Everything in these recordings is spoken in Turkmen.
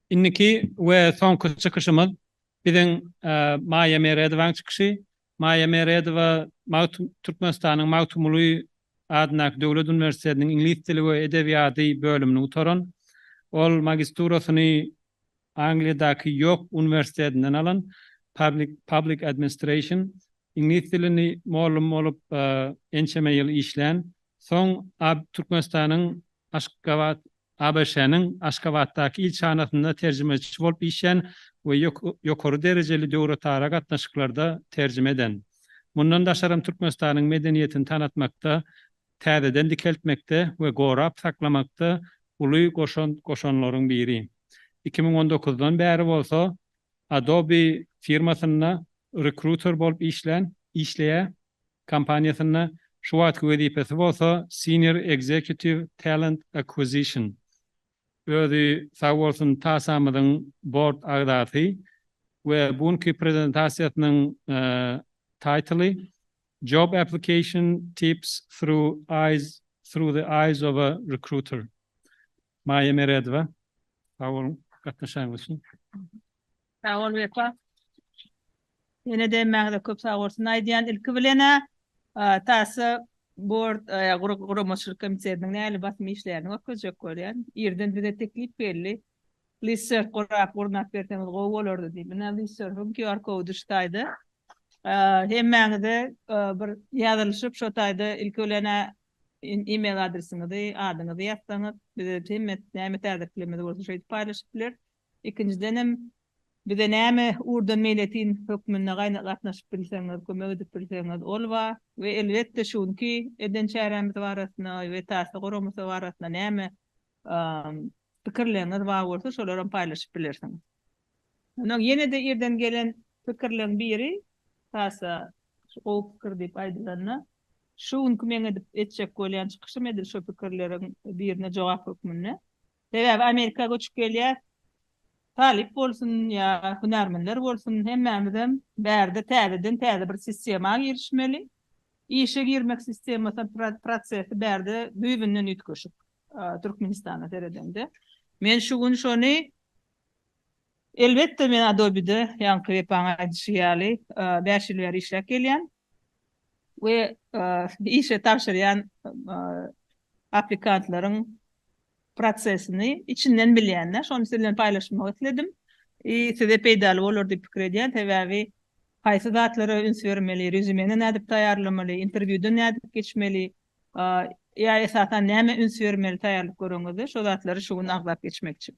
Indiki we soňky çykyşymyz biziň Maýa Meredowaň çykyşy. Maýa Meredowa Türkmenistanyň Magtymguly adyndaky döwlet uniwersitetiniň iňlis dili we edebiýady bölümini gutaran. Ol magisturasyny Angliýadaky Ýork uniwersitetinden alan Public Administration iňlis dilini mugallym bolup ençeme ýyl işlän, soň Türkmenistanyň Aşgabat ABŞ-nyň Aşgabatdaky ilçihanasynda terjimeçi bolup işlän we ýokary derejeli döwletara gatnaşyklarda terjime eden. Mundan daşaram Türkmenistanyň medeniýetini tanatmakda täzeden dikeltmekde we gorap saklamakda uly goşant goşanlaryň biri. Iki müň on dokuzdan bäri bolsa Adobe firmasynda rekruter bolup işlän, işleýär, kompaniýasynda, şu wagtky wezipesi bolsa Senior Executive Talent Acquisition. Özi sag bolsun TASA-myzyň bord agzasy we bu günki prezentasiýasynyň taýtly Job application tips through eyes through the eyes of a recruiter. Maýa Meredowa. Sag boluň gatnaşanyňyz üçin. Sag bol Wepa. Ýene-de emmäňize köp sag bolsun aýdýan. Ilki bilen-ä Tasa Board guramaçylyk komitetiniň nähili basym işlerini görkezjek bolýan. Irden bize teklip geldi. Listserf gurap gurnap berseňiz gowy bolardy diýip. Ine listserfiň QR kody şu taýda. Hemmäňize bir ýazylyşyp şo taýda ilki bilen email adresiňizi, adyňyzy ýazsaňyz bize hemme näme täzeliklerimiz bolsa şeýdip paýlaşyp bileris. Ikinjidenem bize näme ugurdan meýletin hökmünde gatnaşyp bilseňiz, kömek edip bilseňiz ol ba we elbetde şu günki eden çärämiz barasynda we Tasa guramasy barasynda näme pikirleriňiz bar bolsa şolary hem paýlaşyp bilersiňiz. Ynha ýene-de irden gelen pikirleriň biri, hasa şu gowy pikir diýip aýdylanda, şu günki meň edip etjek bolýan çykyşym edil şo pikirleriň birine jogap hökmünde. Sebäbi Amerika göçüp gelýäs, talyp bolsun ýa hünärmenler bolsun hemmämizem bärde täzeden täze bir sistema girişmeli. Işe girmek sistemasy, prosesi bärde düýbünden üýtgeşik. Türkmenistana seredemde men şu gün şony Elbetde men Adobe-de ýaňky Wepaň aýdyşy ýaly bäş ýyl bäri işläp gelýän we işe tabşyrýan aplikantlaryň prosesini içinden bilýän-dä. Şony siz bilen paýlaşmak isledim. I size peýdaly bolar diýip pikir edýän. Sebäbi haýsy zatlara üns bermeli, rezümeni nädip taýýarlamaly, interwýudan nädip geçmeli, Ýa esasan nämä üns bermeli taýýarlyk göregiňizde şo zatlary şu gün agzap geçmek üçin.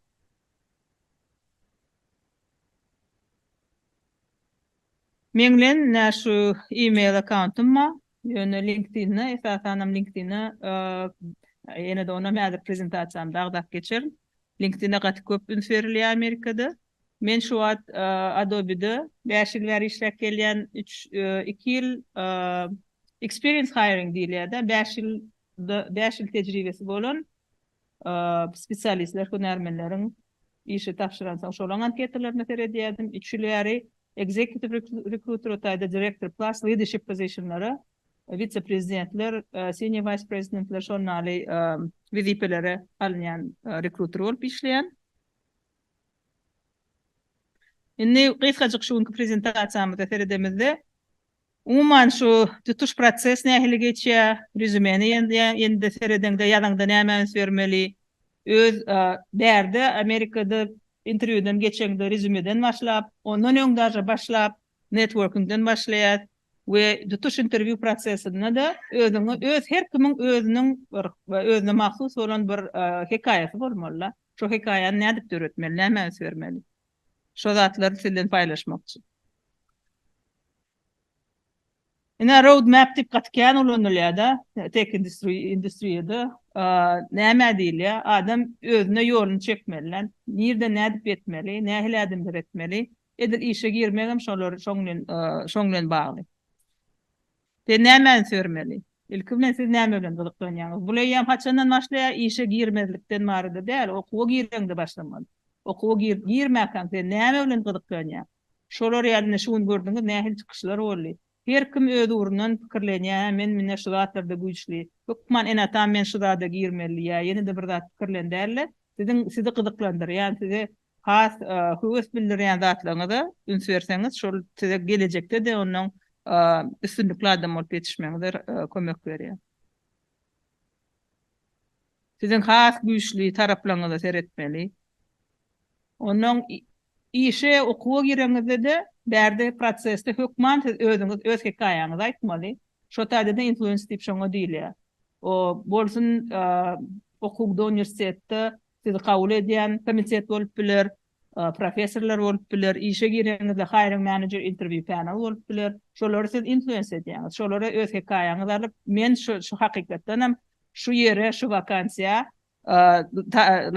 Meň bilen nä şu email akkauntum bar, ýöne LinkedIn-de esasanam LinkedIn-de ýene-de onam häzir prezentasiýamda agzap geçerin. LinkedIn-e gaty köp üns berilýär Amerikada. Men şu wagt Adobe-de bäş ýyl bäri işläp gelýän, üç, iki ýyl experience hiring diýilýär-de, bäş ýyl, bäş ýyl tejribesi bolan spesialistler, hünärmenleriň işe tabşyransoň, şolaň anketalaryna seredýärdim. Üç ýyl bäri executive recruiter, o taýda direktor plus leadership position-lara, wise-prezidentler, senior wise-prezidentler şonda ýaly wezipelere alynýan rekruter bolup işleýän. Indi gysgajyk şu günki prezentasiýamyza seredemizde, umuman şu tutuş proses nähili geçýär, rezümeni ýene-de seredeňde, ýazaňda nämä üns bermeli, öz bärde Amerikada interwýudan geçeňde rezümeden başlap, ondan öň daže başlap, networkingden başlaýas we tutuş interwýu prosesinde-de özüňi öz her kimiň özüniň bir özüne mahsus bolan bir hekaýasy bolmaly-da. Şo hekaýany nädip döretmeli, nämä üns bermeli? Şo zatlary siz bilen paýlaşmakçy. Ine road map diýip gaty kän ulanylýada tech industriýada nämä diýilýä adam özüne ýoluny çekmeli lan nirden nädip ýetmeli nähili ädimler etmeli edil işe girmegem şolar şoň bilen şoň bilen bagly. Sen nämäni sörmeli? Ilki bilen siz näme bilen gyzyklanýaňyz? Bul eýýäm haçandan başlaýar? Işe girmezlikden barada däl, okuwa gireňde başlamaly. Okuwa girip girmäkäň sen näme bilen gyzyklanýaň? Şolar ýaly ine şu gün gördüňiz nähili çykyşlar boldy. Her kim öz ugrundan pikirlenýär, hä men mine şu zatlarda güýçli, hökman ene-atam men şu zada girmeli diýýär, ýene-de bir zat pikirlen däl-de, siziň sizi gyzyklandyrýan, size Has höwes bildirýän zatlaryňyza üns berseňiz, şol size gelejekde-de ondan üstünlikli adam bolup ýetişmegiňize kömek berýär. Siziň has güýçli taraplaryňyza seretmeli. Ondan işe, okuwa gireňizde-de, bärde prosesde hökman siz özüňiz öz hekaýaňyzy aýtmaly. Şo taýda-da influencer diýip şoňa diýilýär. O bolsun okuwda, uniwersitetde, Sizi kabul edýän komitet bolup biler, professorlar bolup biler, işe gireňizde hiring manager interview panel bolup biler. Şolary siz influence edýäňiz. Şolara öz hekaýaňyzy alyp, men şu hakykatdanam şu ýere, şu wakansiýa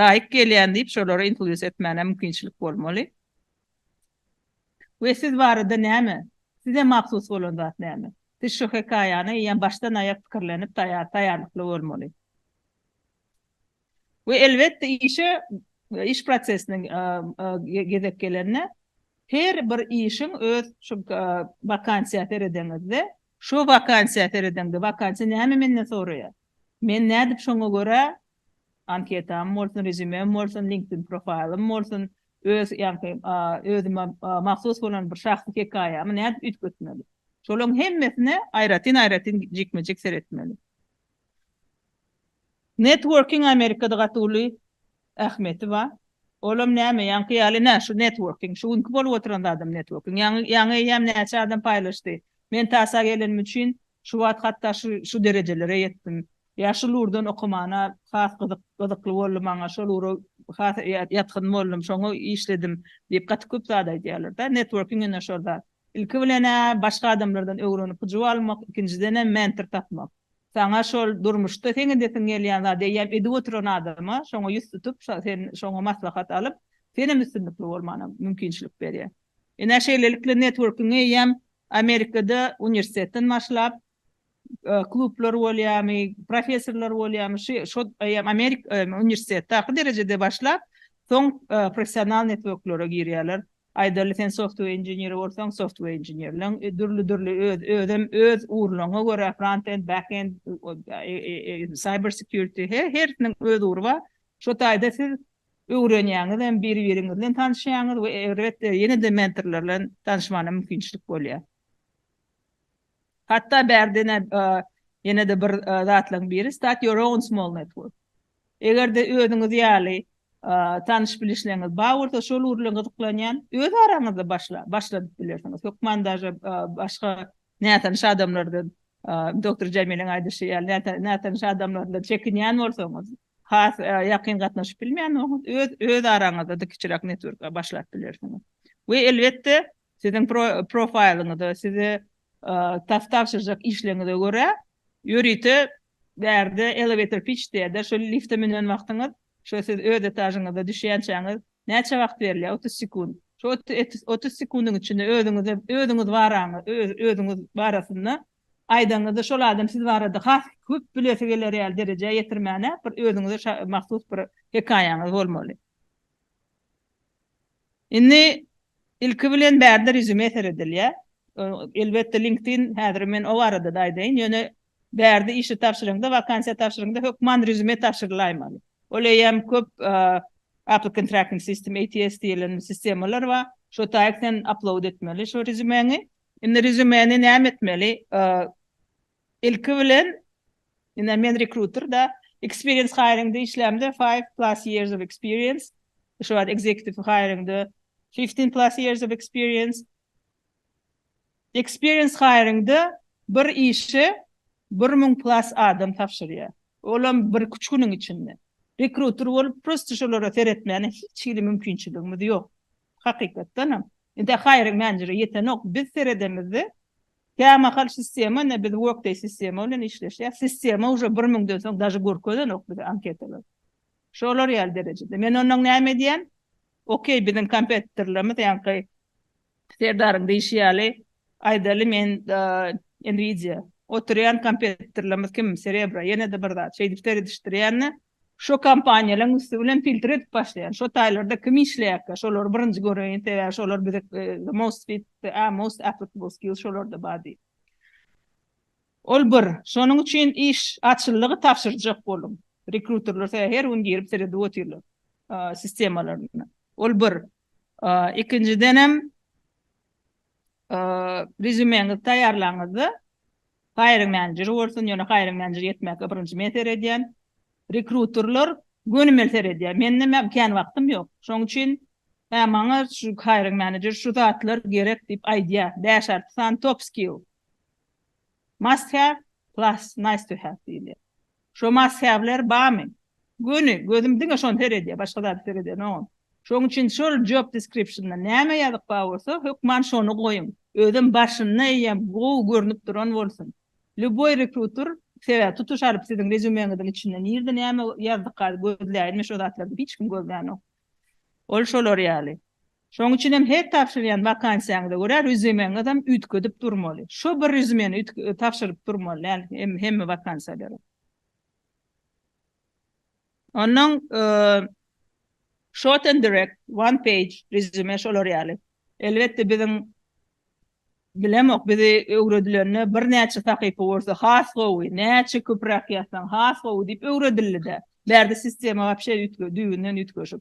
laýyk gelýän diýip, şolary influence etmäne mümkinçilik bolmaly. We siz barada näme? Size mahsus bolan zat näme? Siz şu hekaýany eýýäm başdan aýak pikirlenip taýýarlykly bolmaly. We elbetde işe iş prosesine gezek gelende her bir işiň öz şu wakansiýa seredeňizde şu wakansiýa seredeňde wakansiýa näme menden soraýar? Men nädip şoňa görä anketam bolsun rezýumem bolsun linkedin profaýlym bolsun öz ýaňky özüme mahsus bolan bir şahsy hekaýamy nädip üýtgetmeli? Şolaryň hemmesine aýratyn aýratyn jikme jik seretmeli. Networking Amerikada gaty uly ähmiýeti bar. Olam näme ýaňky ýaly nä şu networking. Şu günki bolup oturan zadam networking. Ýaňy ýaňy eýýäm näçe adam paýlaşdy. Men tasa gelenim üçin şu wagt hatda şu şu derejelere ýetdim. Ýa şul ugurdan okamana has gyzyk gyzykly boldy maňa. Şol ugra has ýa ýatgyn boldum. Şoňa işledim diýip gaty köp zat aýdýarlar da. Networking ine şol zat. Ilki bilen-ä başga adamlardan öwrenip hyjuw almak, ikinjidenem mentor tapmak. Saňa şol durmuşda seň edesiň gelýän zady eýýäm edip oturan adama şoňa ýüz tutup, sen şoňa maslahat alyp, senem üstünlikli bolmana mümkinçilik berýär. Ine, şeýlelikle networkingi eýýäm Amerikada uniwersitetden başlap, Klublar bolýamy, professorlar bolýamy, şy şod eýýam Amerik e, uniwersitetdaky derejede başlap, soň e, professional networklere girýärler. Aýdaly, sen software inženeri bolsaň, software inženerleň e, dürli-dürli öz özem öz ugurlaryňa görä front-end, back-end, e, e, e, cyber security he, hersiniň öz ugry bar. Şo taýda siz öwrenýäňiz hem bir-biriňiz bilen tanyşýaňyz we elbetde ýene-de mentorlar bilen tanyşmagyna mümkinçilik bolýar. Hatda bärdenä ýene-de bir zatlaryň biri start your own small network. Eger-de özüňiz ýaly tanyş-bilişleňiz bar bolsa, şol ugur bilen gyzyklanýan, öz araňyzda başla, başladyp bilersiňiz. Hökman daže başga nätanyş adamlardan, doktor Jamileň aýdyşy ýaly, nätanyş adamlardan çekinýän bolsaňyz, has ýakyn gatnaşyp bilmeýän bolsaňyz, öz, öz araňyzda-da kiçiräk network başlap bilersiňiz. We elbetde, Siziň profaýlyňyza, size tas tabşyrjak işleriňize görä, ýörite bärde elewator pitch diýerler, şol lifte münen wagtyňyz, şo siz öz etažyňyza düşýänçäňiz näçe wagt berilýär? Otuz sekunt. Şo otuz sekundyň içinde özüňize, özüňiz özüňiz barasynda aýdanňyzda, şol adam siz barada has köp bilesi geler ýaly derejä ýetirmäne bir özüňize mahsus bir hekaýaňyz bolmaly. Indi ilki bilen bärde rezüme seredilýär. Elbetde LinkedIn häzir men o barada-da aýdaýyn, ýöne bärde işe tabşyraňda, wakansiýa tabşyraňda hökman rezüme tabşyrylaýmaly. Ol eýýäm köp Applicant Tracking System, ATS, diýilen sistemalar bar. Şo taýyk sen upload etmeli şo rezümeňi. Indi rezümeni näme etmeli? Ilki bilen Ine men rekruter da experience hiringde işlämde five plus years of experience şu wagt executive hiringde fifteen plus years of experience experience hiringde bir işi bir müň plus adam tabşyrýar olam bir üç günüň içinde rekruter bolup prosta şolara seretmäne hiç hili mümkinçiligimiz ýok hakykatdanam indi hiring menejere ýetenok biz seredemizde Kämahal sistema ine biz workday sistema bilen işleşýäs. Sistema uje bir müňden soň daže görkezenok bize anketalary. Şolar ýaly derejede. Men ondan näme edýän? Okey biziň kompetitorlarymyz ýaňky Serdaryň diýşi ýaly aýdaly men Nvidia oturýan kompetitorlarymyz kim Cerebro ýene-de bir zat şeýdip seredişdirýän-de Şo kompaniýalaň üsti bilen filtr edip başlaýan. Şo taýlarda kim işleýärkä şolary birinji göreýin sebäbi şolar bize the most fit a most applicable skill şolarda bar diýip. Ol bir. Şonuň üçin iş açyllygy tabşyrjak boluň. Rekruterler sebäbi her gün girip seredip otyrlar sistemalaryna. Ol bir. Ikinjidenem Rezýumeňizi taýýarlaňyzda, hiring menejeri bolsun, ýöne hiring menejeri ýetmäge birinji men seredýän. Rekruterler gönümel seredýär. Mende näme kän wagtym ýok. Şonuň üçin, hä maňa şu hiring menejer şu zatlar gerek diýip aýdýar. Bäş alty sany top skill. Must have plus nice to have diýilýär. Şo mazhäbler bamy? Göni, gözüm diňe şony seredýär, başga zady seredenogam. Şoň üçin şol job description-da näme ýazyk bar bolsa, hökman şony goýuň. Özem başynda eýýäm gowy görnüp duran bolsun. Lýuboý rekruter, sebäbi tutuş alyp siziň rezýumeňiziň içinde nirde näme ýazdykady gözläýinmi şo zatlardy hiç kim gözlänok. Ol şolar ýaly. Şoň üçin hem her tabşyrýan wakansiýaňyza görä rezýumeňizem üýtgedip durmaly. Şo bir rezýumeni üýtge tabşyryp durmaly däl hemme wakansiýalara. Onnoň short and direct, one page rezýume şolar ýaly. Elbetde biziň bilemok bizi öwredilende birnäçe sahypa bolsa has gowy, näçe köpräk ýazsaň has gowy diýip öwredildi-dä. Bärde sistema wapşe üýtge düýbünden üýtgeşik.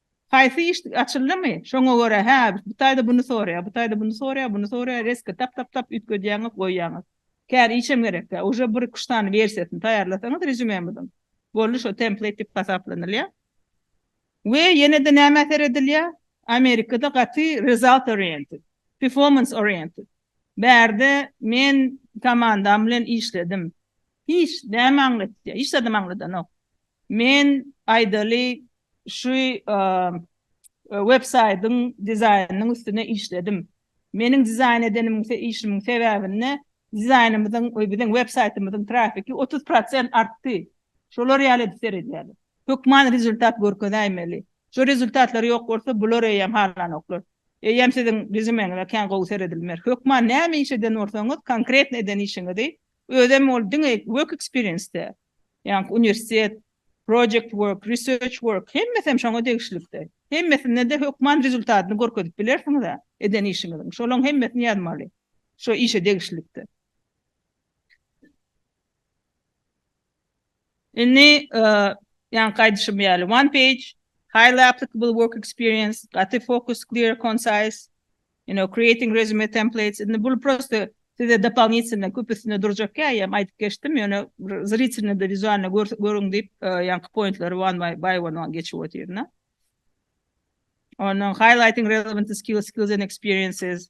Haýsy işdk açyldymy, şoňa görä, hä, bu taýda buny soraýar, bu taýda buny soraýar, buny soraýar, reska tap, tap, tap üýtgedýäňiz, goýýaňyz. Kän işem gerek däl. Uje bir iki-üç sany wersiýasyny taýýarlasaňyz rezýumemiziň, boldy, şo template diýip hasaplanylýar. We ýene-de nämä seredilýär? Amerikada gaty result oriented, performance oriented. Bärde men komandam bilen işledim. Hiç näme aňlatýar? Hiç zadam aňladanok. Men aýdaly şu web saýdyň dizaýnynyň üstüne işledim. Meniň dizaýn edenim işimiň sebäbinde dizaýnymyzyň we biziň web saýtymyzyň trafiki otuz prosent artdy. Şolar ýaly edip seredýärler. Hökman rezultat görkezäýmeli. Şu rezultatlar ýok bolsa bular eýýäm halanoklar. Eýýäm siziň rezümeňize kän gowy seredilmer. Hökman näme iş eden bolsaňyz, konkretno eden işiňizi Özem ol diňe work experience-de, ýaňky uniwersitet, project work, research work, hemmesem şoňa degişlikde. Hemmesinde-de hökman rezultatyny görkezip bilersiňiz-ä eden işiňiziň. Şolaň hemmesini ýazmaly. Şo işe degişlikde. Indi, ýaňky aýdyşym ýaly, one page, highly applicable work experience, gaty focus, clear, concise, you know, creating resume templates, indi bul prosta size dopolinitselno köp üstünde durjak käýýäm, aýdyp geçdim, ýöne bir zritelno-da wizualno görüň diýip, ýaňky pointlary one by one geçip otyryn-a. Ondan highlighting relevant skills, skills and experiences.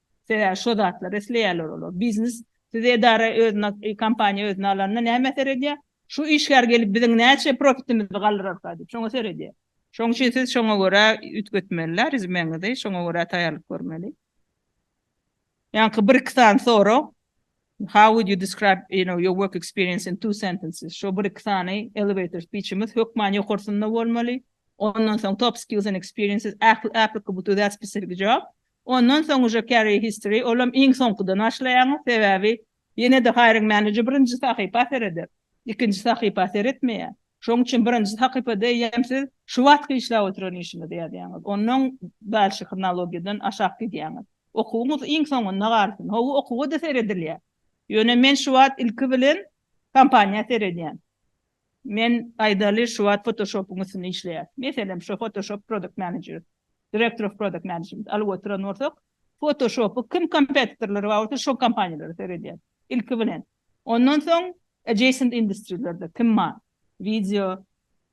Sebäbi şo zatlary isleýärler olar. Biznes siz edara özüne kompaniýa özüne alanda näme äser edýär? Şu işgär gelip biziň näçe profitimizi galdyrarka diýip şoňa seredýär. Şoň üçin siz şoňa görä üýtgetmeli rezümeňizi şoňa görä taýýarlyk görmeli. Ýaňky bir iki sany sorag How would you describe you know your work experience in two sentences şo bir iki sany elevator speechimiz hökman ýokarsynda bolmaly. Ondan soň top skills and experiences applicable to that specific job Ondan soň uje carry history olam iň soňkudan başlaýaňyz sebäbi ýenede hiring manager birinji sahypa sereder ikinji sahypa seretmeýär şoň üçin birinji sakypada eýýäm siz şu wagtky işläp oturan işiňizi ýazýaňyz ondan dalşy hronologiýadan aşak gidýäňiz okuwyňyz iň soňunda galsyn howwa okuwa-da seredilýär ýöne men şu wagt ilki bilen kompaniýa seredýän. Men aýdaly şu wagt Photoshopyň üstünde işleýän. Meselem şo Photoshop product manager, director of product management alyp oturan bolsak, Photoshopy kim kompetitorlary bar bolsa şo kompaniýalara seredýän. Ilki bilen. Ondan soň adjacent industry-lerde kim bar? Wideo,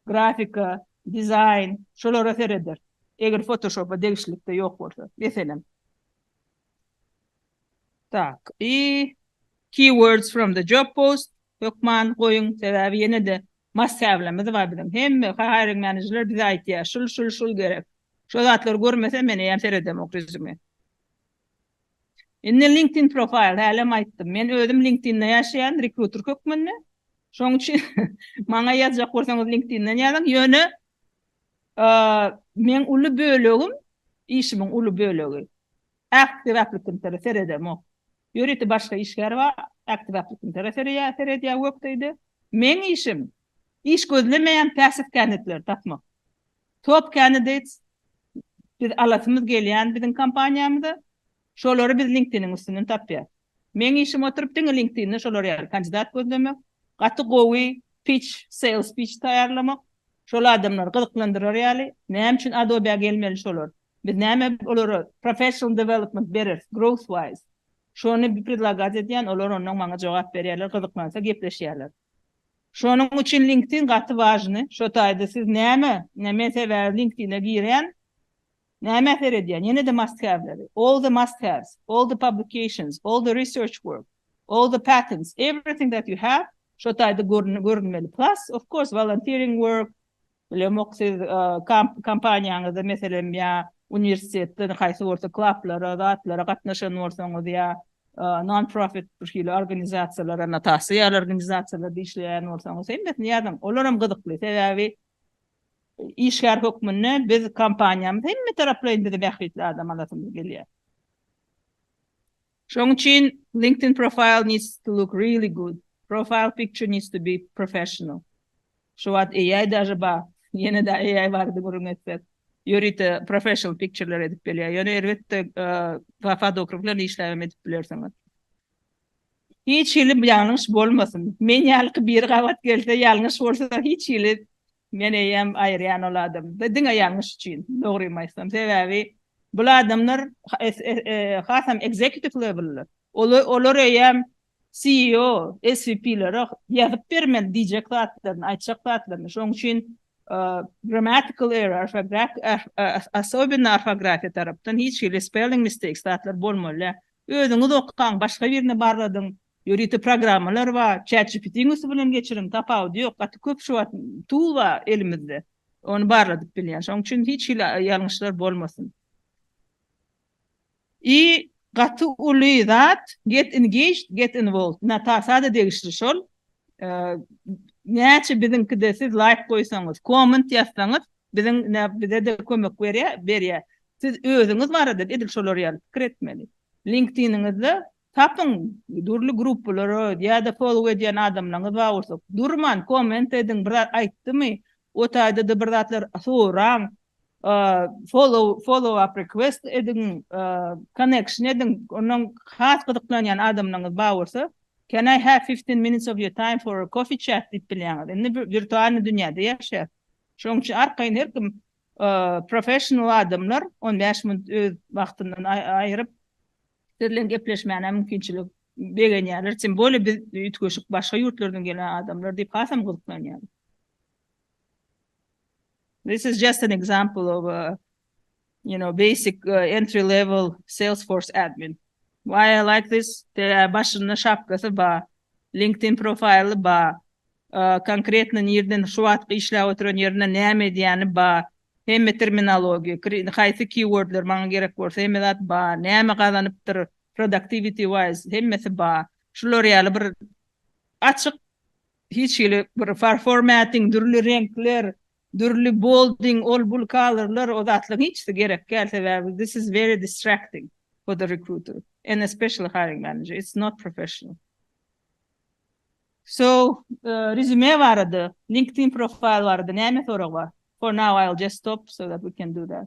grafika, dizaýn şolara sereder. Eger Photoshop-a degişlilikde ýok bolsa. Meselem. Tak y Keywords from the job post hökman goýuň sebäbi ýenede must have'lerimiz bar biziň hemme hiring managerler bize aýtýar şul şul şul gerek şo zatlary görmesem men eýýäm seredemok resume Indi LinkedIn profile hälem aýtdym men özüm LinkedIn'de ýaşaýan rekruter hökmünde şoň üçin maňa ýazjak bolsaňyz LinkedIn'den ýazyň ýöne Meň uly bölegim, işimiň uly bölegi. Äkdibäplikimtara seredemok. Ýörite başga işgär bar, äkdibäplikimtara sereýär, seredýär wekti-de. Meň işim, iş gözlemeýän päsif känitleri tapmak. Top candidates, biz alasymyz gelýän biziň kompaniýamyza. Şolary biz LinkedIniň üstünden tapýas. Meň işim oturyp diňe LinkedIn'de şolar ýaly kandidat gözlemek, gaty gowy pitch, sales pitch taýýarlamak, şol adamlary gyzyklandyrar ýaly, näme üçin Adobe-a gelmeli şolar? Biz näme olara professional development bereris, growth wise? Şony predlagat edýän, olar ondan maňa jogap berýärler, gyzyklansa gepleşýärler. Şonuň üçin LinkedIn gaty wažny. Şo taýda siz näme, näme sebäbi LinkedIn-e girýän, Nämä seredýän? Ýene de must have'leri. All the must haves, all the publications, all the research work, all the patents, everything that you have şo taýda görünmeli. Plus, of course, volunteering work, bilemok siz kompaniýaňyzda meselem ýa uniwersitetde haýsy bolsa klaplara, zatlara gatnaşan bolsaňyz ýa non-profit bir hili organizasiýalara, notasiýalar organizasiýalarda işleýän bolsaňyz hemmesini ýazyň. Olar hem gyzykly, sebäbi Işgär hökmünde biz kompaniýamyz hemmetaraplaýyn bizi bähbitli adam alasymyz gelýär. Şonuň üçin LinkedIn profile needs to look really good, profile picture needs to be professional. Şu wagt AI daže bar, ýene-de AI barada gürrüň etsek, ýörite professional pictureler edip gelýär. Ýöne erbetde fotograf bilen işläbem edip bilersiňiz. Hiç hili ýalňyş bolmasyn. Men ýalyky biri gabat gelse ýalňyş bolsa hiç hili men eýýäm aýyrýan ol adamda diňe ýalňyş üçin dogrymy aýtsam sebäbi bul adamlar hasam executive level olar eýýäm CEO svp lere ýazyp bermeli diýjek zatlaryny aýtjak zatlaryny şoň üçin grammatical error orfografik asobinno orfografiýa tarapdan hiç hili spelling mistakes zatlar bolmaly däl. Özüňiz okaň, başga birini barladyň, ýörite programmalar bar, ChatGPT-iň üsti bilen geçiriň, tapawudy ýok, gaty köp şu wagt tool bar elimizde, ony barladyp bilýän, şonuň üçin hiç hili ýalňyşlar bolmasyn. I gaty uly zat get engaged, get involved, Natasada degişli şol, näçe biziňkide siz laýk goýsaňyz, komment ýazsaňyz, Biziň nä bize-de kömek berýär, berýär. Siz özüňiz barada edil şolar ýaly pikir etmeli. LinkedIniňizde tapyň, dürli gruppalara ýa-da follow edýän adamlaryňyz bar bolsa, durman komment ediň, bir zat aýtdymy, o taýda-da bir zatlar soraň, follow, follow-up request ediň, connection ediň, ondan has gyzyklanýan adamlaryňyz bar bolsa, can I have fifteen minutes of your time for a coffee chat diýip bilýäňiz. Indi wirtualnyý dünýäde ýaşaýarys. Şonuň üçin arkaýyn her kim professional adamlar on bäş minut öz wagtyndan aýryp siz bilen gepleşmäne mümkinçilik begenýärler, tym bolýa biz üýtgeşik başga ýurtlardan gelen adamlar diýip hasam gyzyklanýarlar. This is just an example of a you know basic entry level salesforce admin why i like this sebäbi başynda şapkasy bar linkedin profaýly bar konkretno nirden şu wagtky işläp oturan ýerinde näme edýäni bar hemme terminologiýa haýsy keywordler maňa gerek bolsa hemme zat bar näme gazanypdyr productivity wise hemmesi bar şular ýaly bir açyk hiç hili bir formatting dürli reňkler Dürli bolding ol bul colorlar o zatlaň hiçsi gerek däl sebäbi this is very distracting for the recruiter and especially hiring manager it's not professional so resume barada linkedin profile barada näme sorag bar for now I'll just stop so that we can do that.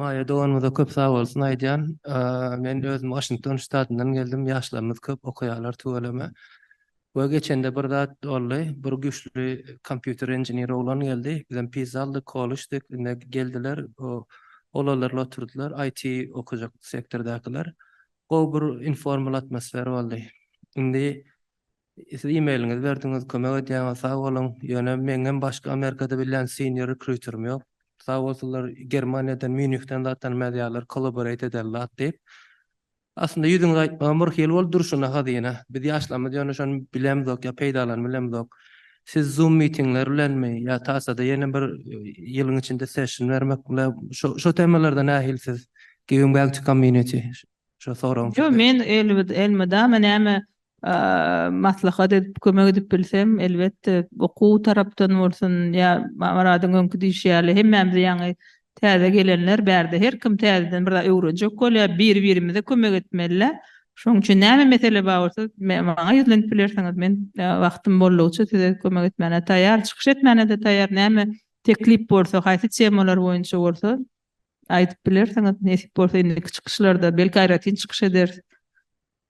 Maýa doganymyza köp sag bolsun aýdýan. Men özüm Waşington ştatyndan geldim. Ýaşlarymyz köp okaýarlar tüweleme. We geçende bir zat boldy. Bir güýçli kompýuter inžener oglan geldi. Bizem pizza aldyk, koluşdyk. Indi geldiler, olarlar oturdylar, IT okajak sektordakylar. Gowy bir informal atmosfera boldy. Indi Siz emailiňizi berdiňiz, kömek edýäňiz, sag boluň. Ýöne meňňem başga Amerikada bilýän senior rekrýuterim ýok. Sag bolsunlar, Germaniýadan, Mýunihden zat tanymazýarlar, kollaboreit eder zat diýip. Aslynda ýüzüňizi aýtmagam bir hili bolup durşuna hazyna. Biz ýaşlarymyz ýöne şony bilemzok ýa peýdalanybilemzok. Siz zoom mitingler bilenmi ýa tasada ýene bir ýylyň içinde session bermek bile şo şo temalarda nähili siz giving back to community şo soragyň Ýok, men elmydama näme maslahat edip, kömek edip bilsem, elbetde, okuw tarapdan bolsun, ýa Maradyň öňki diýşi ýaly, hemmämiz ýaňy täze gelenler, bärde her kim täzeden bir zat öwrenjek bolýar, bir-birimize kömek etmeli-dä. Şonuň üçin näme mesele bar bolsa, maňa ýüzlenip bilersiňiz, men wagtym boldugyça size kömek etmäne taýýar, çykyş etmäne-de taýýar, näme teklip bolsa, haýsy temalar boýunça bolsa, aýdyp bilersiňiz, nesip bolsa, indiki çykyşlarda, belki, aýratyn çykyş ederis.